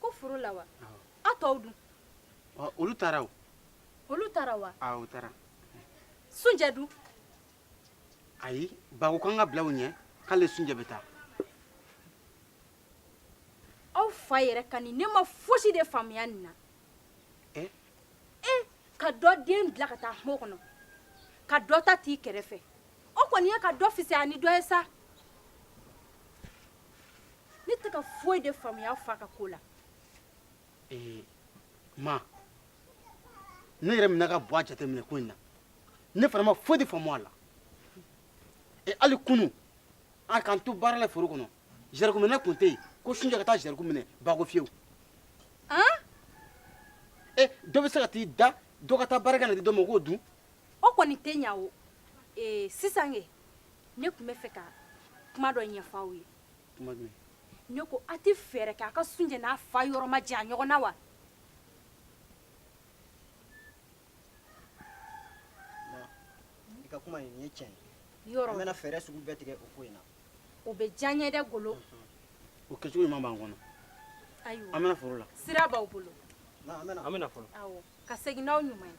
ko foro la wa aw tɔw dun olu taara o olu taara wa awɔ u taara sunjɛ dun ayi ba ko k'an ka bila u ɲɛ k'ale sunjɛ bɛ taa aw fa yɛrɛ ka nin ne ma fosi de faamuya nin na eh? eh ka dɔ den bila ka taa kungo kɔnɔ ka dɔ ta t'i kɛrɛfɛ o kɔni ye ka dɔ fisaya ni dɔ ye sa ne tɛ ka foyi de faamuya fa ka ko la ee ma ne yɛrɛ minɛ ka bɔ a jateminɛ ko in na ne fana ma foyi de faamu a la e hali kunu an k'an to baara la foro kɔnɔ zɛrɛku minɛ tun tɛ yen ko sunjɛ ka taa zɛrɛku minɛ ba ko fiyewu e dɔ bɛ se ka t'i da dɔ ka taa baara kɛ na di dɔ ma o k'o dun o kɔni tɛ ɲɛ o ee sisan kɛ ne tun bɛ fɛ ka kuma dɔ ɲɛfɔ aw ye kuma jumɛn ne ko an tɛ fɛɛrɛ kɛ an ka sunjɛ n'a fa yɔrɔ ma jan ɲɔgɔn na wa i ka kuma in nin ye tiɲɛ ye yɔrɔ an bɛna fɛɛrɛ sugu bɛɛ tigɛ o ko in na o bɛ diya n ye dɛ golo o kɛcogo ɲuman b'an kɔnɔ ayiwa an bɛna foro la sira b'aw bolo an bɛna fɔlɔ awɔ ka segin n'aw ɲuman ye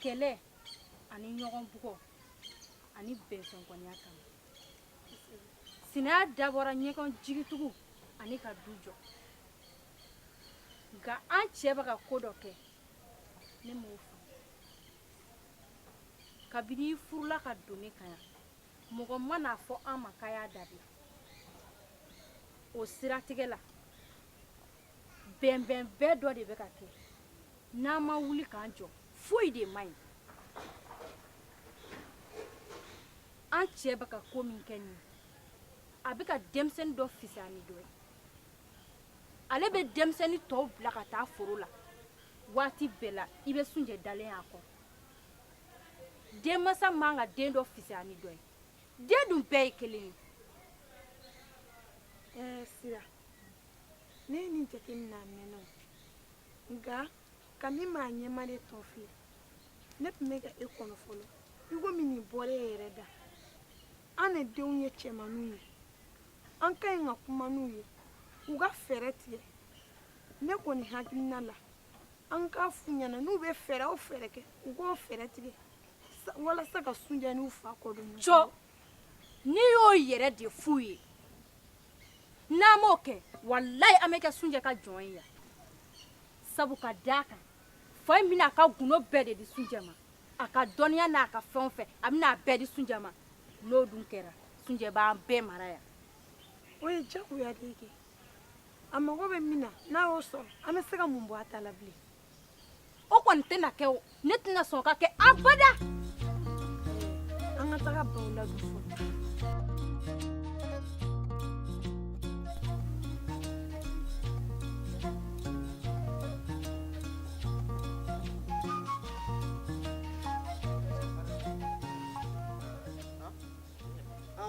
kɛlɛ ani ɲɔgɔn bugɔ ani bɛnsɛnkɔniya kama sinaya dabɔra ɲɔgɔn jigitugu ani ka du jɔ nka an cɛ bɛ ka ko dɔ kɛ ne m'o faamu kabini i furula ka don ne kan yan mɔgɔ ma n'a fɔ an ma k'a y'a dabila o siratigɛ la bɛnbɛn bɛɛ dɔ de bɛ ka kɛ n'an ma wuli k'an jɔ foyi de man ɲi an cɛ bɛ ka ko min kɛ nin a bɛ ka denmisɛnnin dɔ fisaya ni dɔ ye ale bɛ denmisɛnnin tɔw bila ka taa foro la waati bɛɛ la i bɛ sunjɛ dalen y'a kɔrɔ denmansa man ka den dɔ fisaya ni dɔ ye den dun bɛɛ ye kelen ye ɛɛ sira ne ye nin jate minɛ a mɛnna o nka komi maa ɲɛmaa de tɔn filɛ ne tun bɛ ka e kɔnɔ fɔlɔ i komi nin bɔra e yɛrɛ da an de denw ye cɛmanninw ye an ka ɲi ka kuma n'u ye u ka fɛɛrɛ tigɛ ne kɔni hakilina la an k'a f'u ɲɛna n'u bɛ fɛɛrɛ o fɛɛrɛ kɛ u k'o fɛɛrɛ tigɛ walasa ka sunjɛ n'u fa kɔ don jɔ n'i y'o yɛrɛ de f'u ye n'an m'o kɛ walayi an bɛ kɛ sunjɛ ka jɔn ye yan sabu ka d'a kan fa in bɛna a ka gundo bɛɛ de di sunjɛ ma a ka dɔnniya n'a ka fɛn o fɛn a bɛna a bɛɛ di sunjɛ ma n'o dun kɛra sunjɛ b'an bɛɛ mara yan o ye diyagoya de ye kɛ a mago bɛ min na n'a y'o sɔrɔ an bɛ se ka mun bɔ a ta la bilen o kɔni tɛna kɛ o ne tɛna sɔn ka kɛ abada an ka taga baw la bi fɔlɔ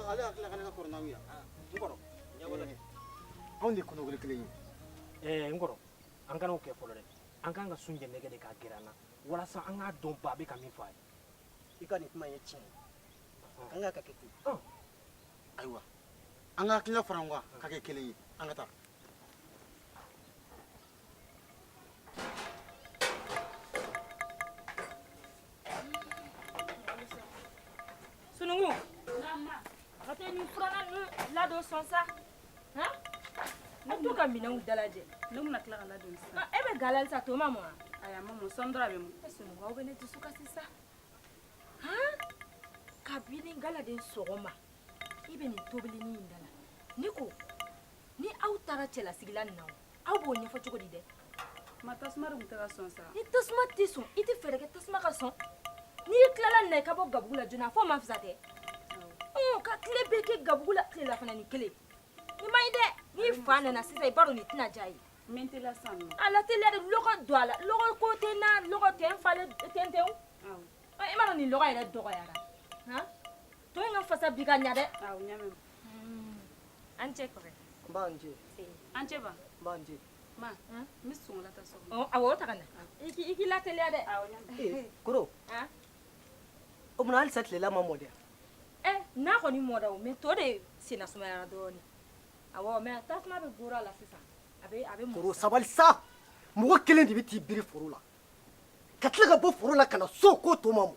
ale hakili la ko ne ka kɔrɔ n'aw ye yan n kɔrɔ anw de ye kɔnɔkoli kelen ye n kɔrɔ an kana o kɛ fɔlɔ dɛ an kan ka sunjɛ nɛgɛ de k'a gɛrɛ an na walasa an k'a dɔn ba bɛ ka min fɔ a ye i ka nin kuma ye tiɲɛ ye an k'a kɛ ten ayiwa an ka hakilina fara ɲɔgɔn kan ka kɛ kelen ye an ka taa sunɔgɔ an ka te nin furunɛ ninnu ladon so sa Ne to ka minɛnw dalajɛ ne bɛna tila ka ladon sisan e bɛ ga la halisa to ma mɔ ayi a ma mɔ sɔɔni dɔrɔn a bɛ mɔ e sunɔgɔ aw bɛ ne dusu kasi sa han kabini galaden sɔgɔma i bɛ nin tobilinin in da la ne ko ni aw taara cɛlasigi la nin na o aw b'o ɲɛfɔ cogo di dɛ ma tasuma dun tɛ ka sɔn sa ni tasuma tɛ sɔn i tɛ fɛɛrɛ kɛ tasuma ka sɔn n'i tilala nin na i ka bɔ gabugu la joona f'o ma fisa tɛ ɔ ka tile bɛɛ kɛ gabugu la tilelafana nin kelen nin man ɲi dɛ n'i fa nana sisan i b'a dɔn nin tɛna diya a ye min tɛ la san nɔ a lateliya dɛ lɔgɔ don a la lɔgɔ ko tɛ na lɔgɔ tɛ n falen tɛntɛn i m'a dɔn nin lɔgɔ yɛrɛ dɔgɔyara han To in ka fasa bi ka ɲɛ dɛ an cɛ an cɛ ma n bɛ sun ta so a ta na i k'i lateliya dɛ kɔrɔ o tuma halisa tilela ma mɔ dɛ ɛ na kɔni mɔda o mɛ to de senna sumayara dɔɔnin a mɛ tasuma bɛ ga la sisan a bɛ sabali sa mɔgɔ kelen de bɛ t'i biri foro la ka tila ka bɔ foro la ka na so ko to ma mɔ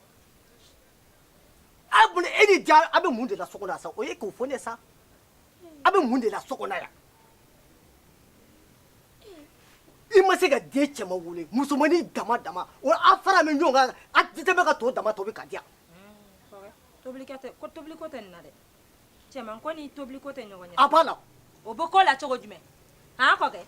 a mun e ni ja a bɛ mun de la so kɔnɔ sa o ye k'o fɔ ne sa a bɛ mun de la so kɔnɔ yan i ma se ka den cɛman wolo musomannin dama dama o a faralen ɲɔgɔn kan a bɛ dɛsɛ ka to dama tobi ka di yan. tobiliko tɛ ko tobiliko tɛ nin na dɛ. cɛman ko ni tobili ko tɛ ɲɔgɔn ɲɛ a b'a la o bɛ ko la cogo jumɛn han kɔkɛ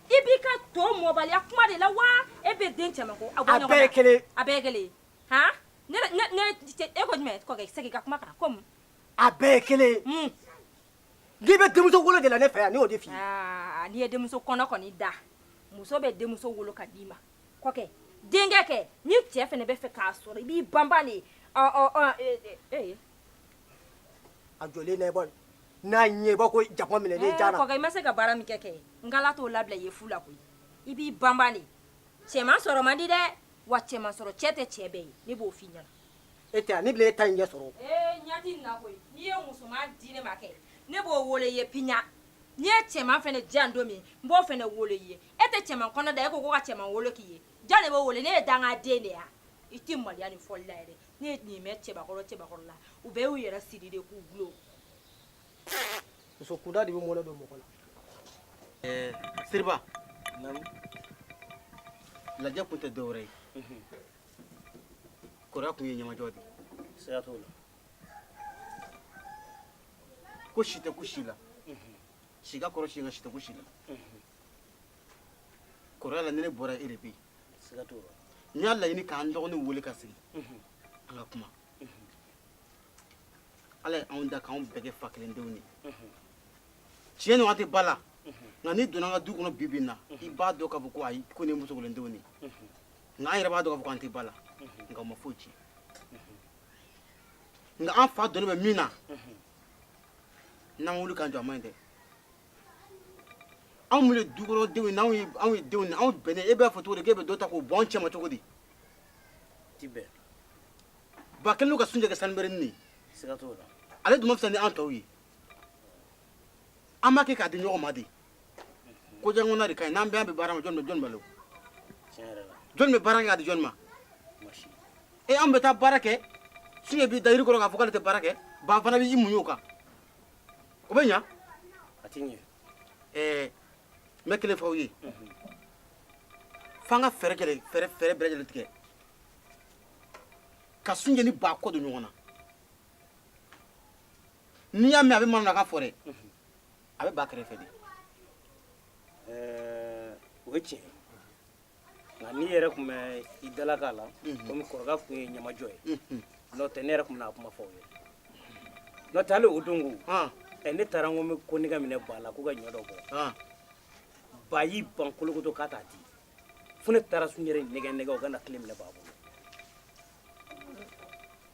i b'i ka to mɔbaliya kuma de la wa e bɛ den cɛman ko a bɔ ɲɔgɔn na a bɛɛ ye kelen ye a bɛɛ ye kelen ye han ne ne ne e ko jumɛn kɔkɛ segin ka kuma kan ko mun a bɛɛ ye kelen ye mun n'i bɛ denmuso wolo de la ne fɛ yan ne y'o de f'i ye aa n'i ye denmuso kɔnɔ kɔni da muso bɛ denmuso wolo ka d'i ma kɔkɛ denkɛ kɛ ni cɛ fɛnɛ b'a fɛ k'a sɔrɔ i b'i banban de ɔ ɔ ɔ ee ee a jɔlen na i b'a n'a ɲɛ b'a ko jakuma minɛnen jara kɔkɛ i ma se ka baara min kɛ kɛ n k'ala t'o labila i ye fu la koyi i b'i banban de cɛman sɔrɔ man di dɛ wa cɛman sɔrɔ cɛ tɛ cɛ bɛɛ ye ne b'o f'i ɲɛna e tɛ yan ne bɛna e ta in ɲɛ sɔrɔ ee ɲɛ t'i na koyi n'i ye musoman di ne ma kɛ ne b'o wolo i ye piyan n'i ye cɛman fɛnɛ di yan don min n b'o fɛnɛ wolo i ye e tɛ cɛman kɔnɔ da e ko ko ka cɛman wolo k'i ye jɔn de b'o wolo ne ye dangaden de ye a i tɛ maloya nin fɔli la yɛrɛ ne ye nin mɛn cɛbakɔrɔ cɛbakɔrɔ la u bɛɛ y'u yɛrɛ siri de k'u gulon muso kunda de bɛ mɔnɛ don mɔgɔ la ɛɛ siriba lajɛ kun tɛ dɔwɛrɛ ye kɔrɔya kun ye ɲamajɔ de ye siga t'o la ko si tɛ ku si la si ka kɔrɔ si nka si tɛ ku si la kɔrɔya la ni ne bɔra e de bɛ yen siga t'o la n y'a laɲini k'an dɔgɔninw wele ka sigi an ka kuma ala ye anw da k'anw bɛɛ kɛ fa kelen denw de ye tiɲɛ na an tɛ ba la nka n'i donna an ka du kɔnɔ bi bi na i b'a dɔn k'a fɔ ko ayi ko nin ye muso kelen denw de ye nka an yɛrɛ b'a dɔn k'a fɔ k'an tɛ ba la nka o ma foyi tiɲɛ nka an fa donnen bɛ min na n'an ma wuli k'an jɔ a man ɲi dɛ anw ye dukɔnɔdenw ye anw ye anw ye denw ye anw bɛnnen e b'a fɔ cogo di k'e bɛ dɔ ta k'o bɔ anw cɛma cogo di tɛ bɛn ba kɛlen don ka sunjɛ kɛ sanubɛrɛnin de ye siga t'o la ale dun ma fisa ni an tɔw ye an b'a kɛ k'a di ɲɔgɔn ma de ko jankɔnna de ka ɲi n'an bɛɛ an bɛ baara ma jɔni bɛ jɔni balo tiɲɛ yɛrɛ la jɔni bɛ baara kɛ k'a di jɔni ma masi e an bɛ taa baara kɛ sunjɛ b'i da yiri kɔrɔ k'a fɔ k'ale tɛ baara kɛ ba fana b'i muɲu o kan o bɛ ɲa a tɛ ɲɛ ɛɛ n bɛ kelen fɔ aw ye f'an ka fɛɛrɛ kɛlɛ fɛɛrɛ fɛɛrɛ bɛɛ lajɛlen tigɛ ka sunjɛ ni ba kɔ don ɲɔgɔn na n'i y'a mɛn a bɛ manamanakan fɔ dɛ a bɛ ba kɛrɛfɛ de ɛɛ o ye tiɲɛ ye nka ne yɛrɛ tun bɛ i dalaka la komi kɔrɔkɛ tun ye ɲamajɔ ye n'o tɛ ne yɛrɛ tun bɛna kuma fɔ aw ye n'o tɛ hali o don ko ɛ ne taara ko n bɛ konnɛgɛ minɛ ba la k'u ka ɲɔ dɔ bɔ ba y'i ban kolokoto k'a t'a di fo ne taara sunjɛ yɛrɛ nɛgɛn nɛgɛn o ka na kile minɛ ba bolo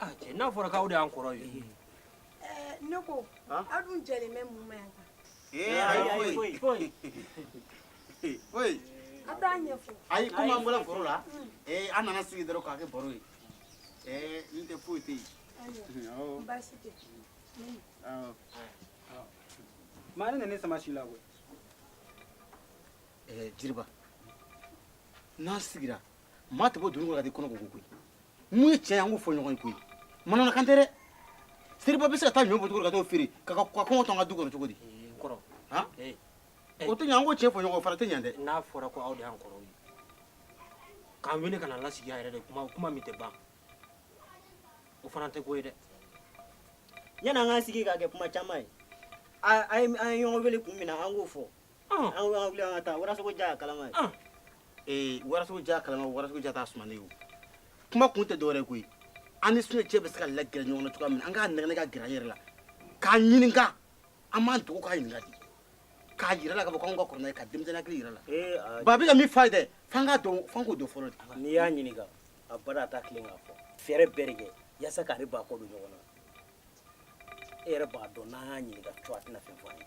Ah, cɛ n'a fɔra k'aw de y'an kɔrɔ ye eh, ne ko aw dun jɛlen bɛ mun ma yan kan eh, ayi foyi foyi foyi a t'a ɲɛfɔ ayi komi an bɔra foro la mm. eh, an nana sigi dɔrɔn k'a kɛ baro ye n'o tɛ foyi tɛ yen baasi tɛ maa ne nana sama si la koyi jiriba n'an sigira maa tɛ bɔ dugu kɔnɔ ka du kɔnɔ ko koyi min ye cɛ ye an k'o fɔ ɲɔgɔn ye koyi manamanakan tɛ dɛ seriba bɛ se ka taa ɲɔ bɔ cogo ka t'o feere ka ka kɔngɔ to an ka du kɔnɔ cogo di kɔrɔ o tɛ ɲɛ an k'o cɛ fɔ ɲɔgɔn fara tɛ ɲɛ dɛ n'a fɔra ko aw de y'an kɔrɔw ye k'an wele ka na lasigi a yɛrɛ de kuma kuma min tɛ ban o fana tɛ ko ye dɛ yanni an k'an sigi k'a kɛ kuma caman ye a ye ɲɔgɔn wele kun min na an k'o fɔ Kuma kun tɛ dɔwɛrɛ koyi an sun cɛ bɛ se ka la g ɲɔgɔn cogo min an ka nɛgɛ ka g yɛrɛ la k'a ɲini an b'an dugu ka ɲininka k'a jira la ka bɔ anw ka kɔrɔ ka denmisɛn jira la ba bɛ ka min fa dɛ fan ka dɔn fan ko don fɔlɔ n'i y'a ɲini a ba a taa tilen k'a fɔ fɛɛrɛ bɛɛ de kɛ yasa k'ale ba kɔ don ɲɔgɔn na e yɛrɛ b'a dɔn n'an y'a ɲininka cogo a tɛna fɛn fɔ an ye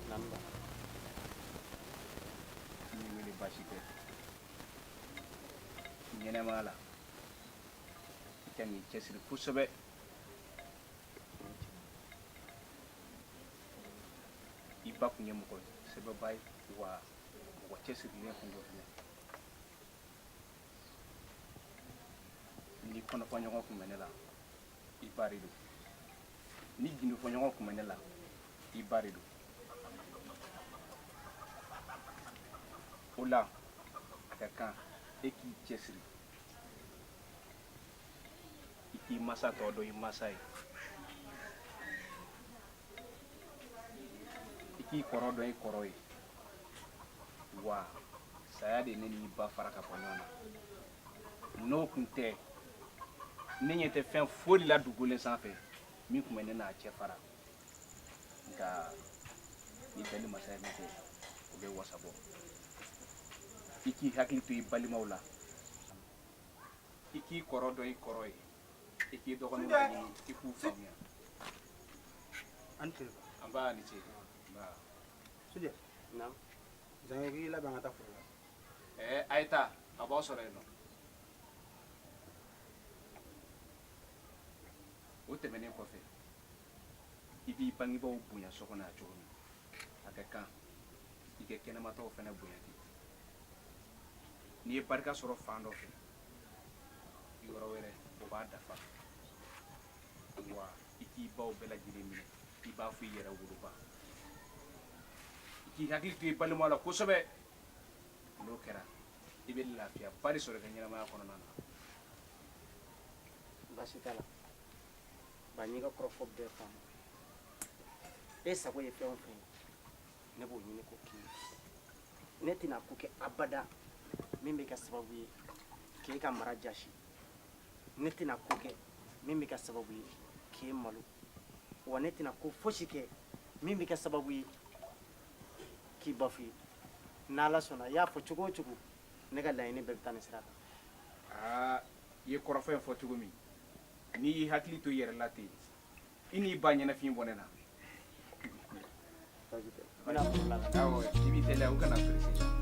ɲɛnɛmaya la i ka n'i cɛsiri kosɛbɛ i ba tun ye mɔgɔ sɛbɛba ye wa mɔgɔ cɛsirilen tun don fana ni kɔnɔfɔɲɔgɔn tun bɛ ne la i ba de don ni gindofɔɲɔgɔn tun bɛ ne la i ba de don o la a ka kan e k'i cɛsiri i k'i masa tɔ dɔn i masa ye i k'i kɔrɔ dɔn i kɔrɔ ye wa saya de ne n'i ba fara ka bɔ ɲɔgɔn na n'o tun tɛ ne ɲɛ tɛ fɛn foyi la dugu ni sanfɛ min tun bɛ ne n'a cɛ fara nka ni bɛɛ ni masa ye min kɛ o bɛ wasa bɔ i k'i hakili to i balimaw la i k'i kɔrɔ dɔn i kɔrɔ ye i k'i dɔgɔninw laɲini i k'u faamuya an tɛ an b'a ni ce nba sujɛ naamu zango k'i labɛn ka taa foro la a ye taa a b'aw sɔrɔ yen o tɛmɛnen kɔfɛ i b'i bangebaaw bonya so kɔnɔ yan cogo min a ka kan i ka kɛnɛma taw fana bonya ten n'i ye barika sɔrɔ fan dɔ fɛ yɔrɔ wɛrɛ o b'a dafa wa i k'i baw bɛɛ lajɛlen minɛ i b'a fɔ i yɛrɛ woloba i k'i hakili to i balima la kosɛbɛ n'o kɛra i bɛ lafiyaba de sɔrɔ i ka ɲɛnamaya kɔnɔna na baasi t'a la ba n y'i ka kɔrɔfɔ bɛɛ faamu e sago ye fɛn o fɛn ye ne b'o ɲini k'o k'i ye ne tɛna ko kɛ abada min bɛ kɛ sababu ye k'e ka mara jasi ne tɛna ko kɛ min bɛ kɛ sababu ye k'e malo wa ne tɛna ko fosi kɛ min bɛ kɛ sababu ye k'i ba f'i ye n'ala sɔnna i y'a fɔ cogo o cogo ne ka laɲini bɛɛ bɛ taa nin sira kan aa i ye kɔrɔfɔ in fɔ cogo min n'i y'i hakili to i yɛrɛ la ten i n'i ba ɲɛnafin bɔ ne na baasi tɛ n bɛna foro la ka awɔ i b'i teliya u kana perese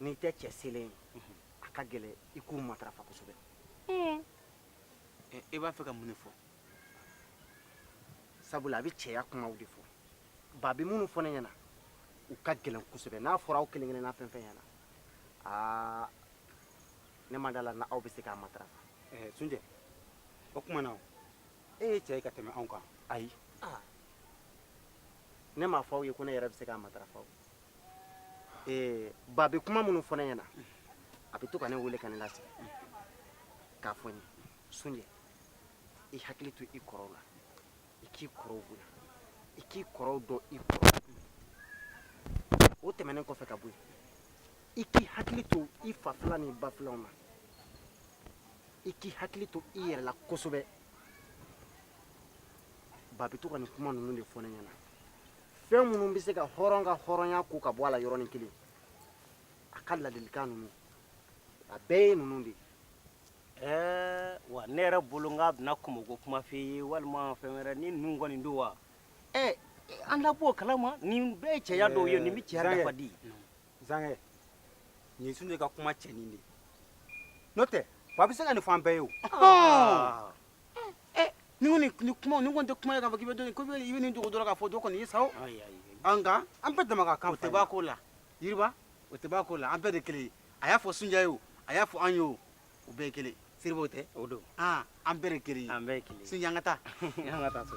n'i tɛ cɛ selen ye a ka gɛlɛn i k'u matarafa kosɛbɛ i b'a fɛ ka mun de fɔ sabula a bɛ cɛya kumaw de fɔ ba bɛ minnu fɔ ne ɲɛna u ka gɛlɛn kosɛbɛ n'a fɔra aw kelen kelenna fɛn fɛn ɲɛna aa ne ma d'a la n'aw bɛ se k'a matarafa sunjɛ o tuma na e ye cɛ ye ka tɛmɛ anw kan ayi ne m'a fɔ aw ye ko ne yɛrɛ bɛ se k'a matarafa o ee ba bɛ kuma minnu fɔ ne ɲɛna a bɛ to ka ne wele ka ne lasigi k'a fɔ n ye sunjɛ i hakili to i kɔrɔw la i k'i kɔrɔw bonya i k'i kɔrɔw dɔn i kɔrɔ o tɛmɛnen kɔfɛ ka bɔ yen i k'i hakili to i fa fila ni ba filaw na i k'i hakili to i yɛrɛ la kosɛbɛ ba bɛ to ka nin kuma ninnu de fɔ ne ɲɛna fɛn minnu bɛ se ka hɔrɔn ka hɔrɔnya ko ka bɔ a la yɔrɔnin kelen a ka ladilikan ninnu a bɛɛ ye ninnu de ye ɛɛ wa ne yɛrɛ bolo n k'a bɛna kɔmɔko kuma f'i ye walima fɛn wɛrɛ ni ninnu kɔni don wa ɛɛ an da b'o kalama nin bɛɛ ye cɛya dɔ ye nin bɛ cɛya nafa di zankɛ nin sunjɛ ka kuma cɛnin de n'o tɛ ba bɛ se ka nin fɔ an bɛɛ ye o ni ko ni kuma ni ko tɛ kuma ye k'a fɔ k'i bɛ dɔ ko i bɛ nin dogo dɔrɔn k'a fɔ dɔ kɔni ye sa o nka an bɛɛ dama ka kan o tɛ bɔ a ko la yiriba o tɛ bɔ a ko la an bɛɛ de kelen ye a y'a fɔ sunjata ye o a y'a fɔ an ye o u bɛɛ ye kelen seriba o tɛ o don an bɛɛ de kelen ye an bɛɛ ye kelen ye sunjata an ka taa an ka taa so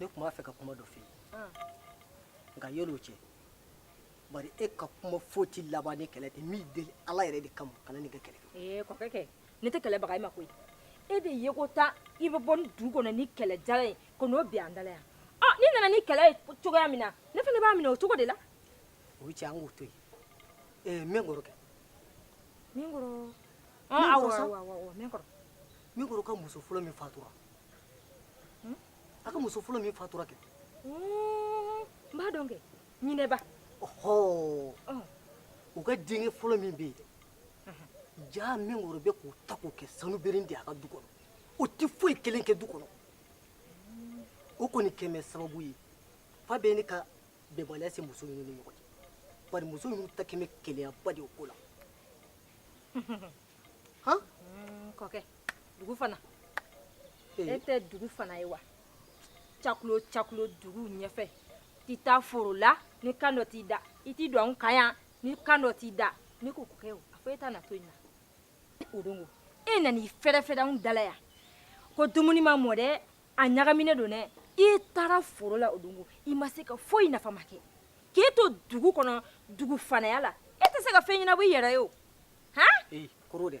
ne tun b'a fɛ ka kuma dɔ f'i ye nka yan'o cɛ bari e ka kuma foyi tɛ laban ni kɛlɛ tɛ n b'i deli ala yɛrɛ de kama kana nin kɛ kɛlɛ ee kɔkɛ kɛ ne tɛ kɛlɛ baga i ma koyi e de ye ko taa i bɛ bɔ ni du kɔnɔ ni kɛlɛ jalan ye ka n'o bin an dala yan ɔ n'i nana ni kɛlɛ ye cogoya min na ne fana b'a minɛ o cogo de la o cɛ an k'o to yen ee minkɔrɔ kɛ minkɔrɔ minkɔrɔ ka muso fɔlɔ min fatura hmm? a ka muso fɔlɔ min fatura kɛ hmm, n b'a dɔn kɛ ɲinɛba ɔhɔ u ka denkɛ fɔlɔ min bɛ yen jaa minkɔrɔ bɛ k'o ta k'o kɛ sanu berin de a ka du kɔnɔ o tɛ foyi kelen kɛ du kɔnɔ o kɔni kɛmɛ sababu ye fa bɛ ne ka bɛnbaliya se muso ninnu ni ɲɔgɔn cɛ bari muso ninnu ta kɛmɛ keleyaba de o ko la kɔkɛ dugu fana e tɛ dugu fana ye wa cakulo cakulo dugu ɲɛfɛ tɛ taa foro la ni kan dɔ t'i da i t'i don anw kan yan ni kan dɔ t'i da ne ko kɔkɛ o a fɔ e ta na to yen na o don ko e nana i fɛrɛfɛrɛ anw dala yan ko dumuni ma mɔ dɛ a ɲagaminen don dɛ i taara foro la o don ko i ma se ka foyi nafa ma kɛ k'e to dugu kɔnɔ dugu fanaya la e tɛ se ka fɛn ɲɛnabɔ i yɛrɛ ye o ee koro dɛ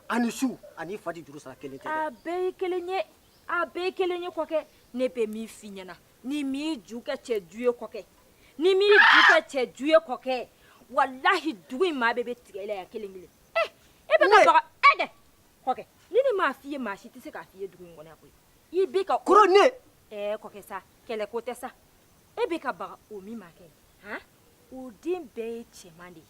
a ni su ani fa tɛ juru sara kelen tɛ dɛ a bɛɛ ye kelen ye a bɛɛ ye kelen ye kɔkɛ ne bɛ min f'i ɲɛna n'i m'i ju kɛ cɛ ju ye kɔkɛ n'i m'i ju kɛ cɛ ju ye kɔkɛ walahi dugu in maa bɛɛ bɛ tigɛ i la yan kelen kelen eh e bɛ ka baga ɛ dɛ kɔkɛ ni ne m'a f'i ye maa si tɛ se k'a f'i ye dugu in kɔnɔ yan koyi i bɛ ka koro ne ɛɛ kɔkɛ sa kɛlɛ ko tɛ sa e bɛ ka baga o min ma kɛ han o den bɛɛ ye cɛman de ye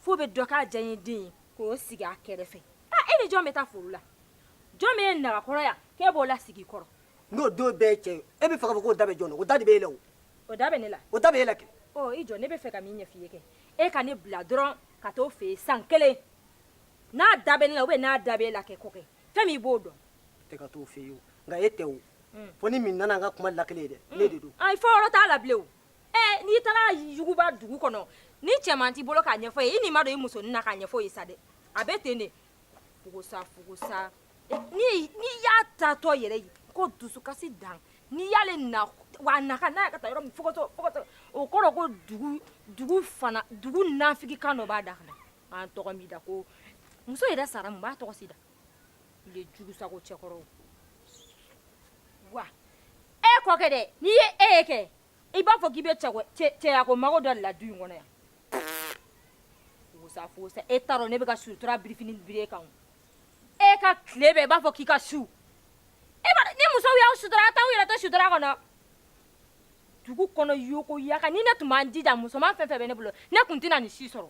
fa bɛ dɔ k'a diyanyeden ye k'o sigi a kɛrɛfɛ e ni jɔn bɛ taa foro la jɔn min ye nagakɔrɔ yan k'e b'o lasigi kɔrɔ n'o don bɛɛ cɛ ye e bɛ fɛ k'a fɔ k'o da bɛ jɔn na o da de bɛ e la o o da bɛ ne la o da bɛ e la kɛ ɔ i jɔ ne bɛ fɛ ka min ɲɛf'i ye kɛ e ka ne bila dɔrɔn ka t'o fɛ yen san kelen n'a da bɛ ne la ubiyɛn n'a da bɛ e la kɛ ko kɛ fɛn min i b'o dɔn e ka t'o fɛ yen o nka e tɛ o fɛn min nana n ka kuma lakele ye dɛ ne de don ayi fɔ yɔrɔ t'a la bilen o Ɛ n'i taara yuguba dugu kɔnɔ ni cɛman t'i bolo k'a ɲɛfɔ i ye i nin ma don i musonin na k'a ɲɛfɔ i ye sa dɛ a bɛ ten de fugusa fugusa n'i y'a taatɔ yɛrɛ ye ko dusukasi don n'i y'ale na wa a na ka na ka taa yɔrɔ min fokotɔ fokotɔ o kɔrɔ ko dugu dugu fana dugu nafigikan dɔ b'a da kɔnɔ an tɔgɔ min da ko muso yɛrɛ sara mun b'a tɔgɔ si da i b'a fɔ k'i bɛ cɛyako mago dɔ la du kɔnɔ yan e dɔn ne bɛ sutura biri e kan e ka tile bɛ i b'a fɔ k'i ka su e ni muso y' sutura a taa yɛrɛ sutura kɔnɔ dugu kɔnɔ ykoya ni ne tun ma n jija musoman fɛn fɛn bɛ ne bolo ne tun tɛna nin si sɔrɔ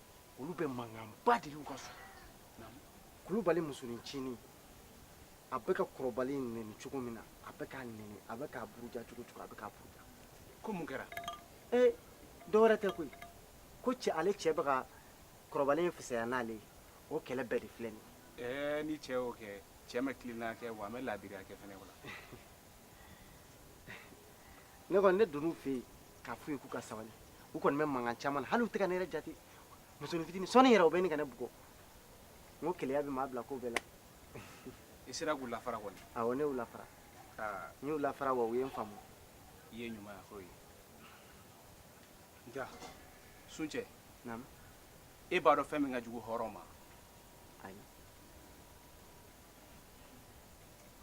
olu bɛ mankanba de l'u ka so kulubali musonincinin a bɛ ka kɔrɔbalen in nɛni cogo min na a bɛ k'a nɛni a bɛ k'a buruja cogo cogo a bɛ k'a buruja ko mun kɛra ee dɔwɛrɛ tɛ koyi ko cɛ ale cɛ bɛ ka kɔrɔbalen in fisaya n'ale ye o kɛlɛ bɛɛ de filɛ nin ye ɛɛ ni cɛ y'o kɛ cɛ ma tilenna kɛ wa a ma laadiriya kɛ fɛnɛ o la ne kɔni ne donn'u fɛ yen k'a f'u ye k'u ka sabali u kɔni bɛ mankan caman na hali u tɛ ka ne yɛrɛ jate musonin fitinin sɔɔni yɛrɛ u bɛ ɲini ka ne bugɔ n ko keleya bɛ maa bila ko bɛɛ la i sera k'u lafara kɔni awɔ ne y'u lafara n y'u lafara wa u ye n faamu i ye ɲumanya k'o ye nka suncɛ naamu e b'a dɔn fɛn min ka jugu hɔrɔn ma ayi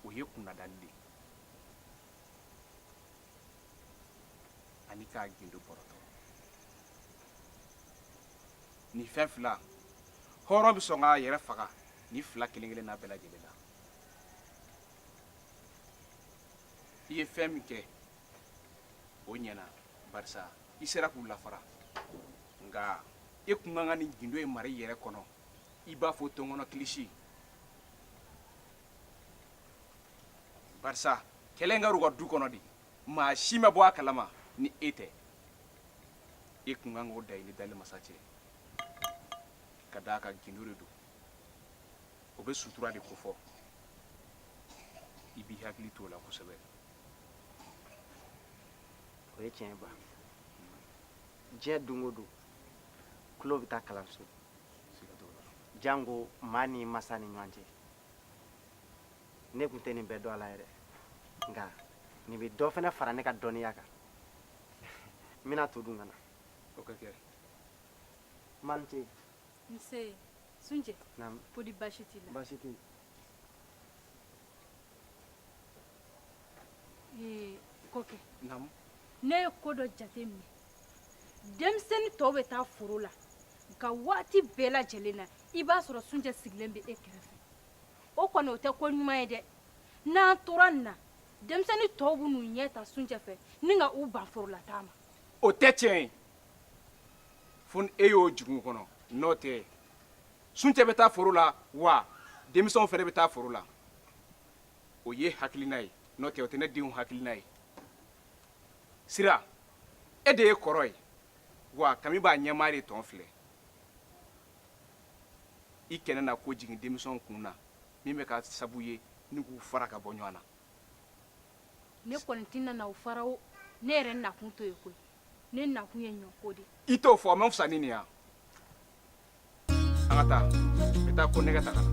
o ye kunnadali de ye ani k'a gindo bɔrɔtɔ nin fɛn fila hɔrɔn bɛ sɔn k'a yɛrɛ faga nin fila kelen kelen n'a bɛɛ lajɛlen na i ye fɛn min kɛ o ɲɛna barisa i sera k'u lafara nka e kun kan ka nin gindo in mara i yɛrɛ kɔnɔ i b'a fɔ tɔnkɔnɔ kilisi barisa kɛlɛ in kɛra u ka du kɔnɔ de maa si ma bɔ a kalama ni e tɛ e tun kan k'o da i ni dali masa cɛ ka d'a kan gindo de don o bɛ sutura de kofɔ i b'i hakili to o la kosɛbɛ o ye tiɲɛba diɲɛ don o don tulo bɛ taa kalanso janko maa ni masa ni ɲɔgɔn cɛ ne tun tɛ nin bɛɛ dɔn a la yɛrɛ nka nin bɛ dɔ fana fara ne ka dɔnniya kan n bɛna to dun ka na o ka kɛ malite nse sunjɛ ko di baasi t'i la baasi tɛ yen ee kɔkɛ ne ye ko dɔ jate minɛ denmisɛnnin tɔw bɛ taa foro la nka waati bɛɛ lajɛlen na i b'a sɔrɔ sunjɛ sigilen bɛ e kɛrɛfɛ o kɔni o tɛ ko ɲuman ye dɛ n'an tora nin na denmisɛnnin tɔw bɛn'u ɲɛ ta sunjɛ fɛ ni ka u ban forolataa ma o tɛ tiɲɛ ye fo ni e y'o jigin u kɔnɔ n'o tɛ sunjɛ bɛ taa foro la wa denmisɛnw fana bɛ taa foro la o y'e hakilina ye n'o tɛ o tɛ ne denw hakilina ye sira e de ye kɔrɔ ye wa kami b'a ɲɛmaa de tɔn filɛ i kana na ko jigin denmisɛnw kun na min bɛ kɛ sabu ye ni k'u fara ka bɔ ɲɔgɔn na ne kɔni tɛna u fara o ne yɛrɛ nakun t'o ye koyi ne nakun ye ɲɔko de i t'o fɔ a man fisa ni nin ye wa an ka taa n bɛ taa ko nɛgɛ ta ka na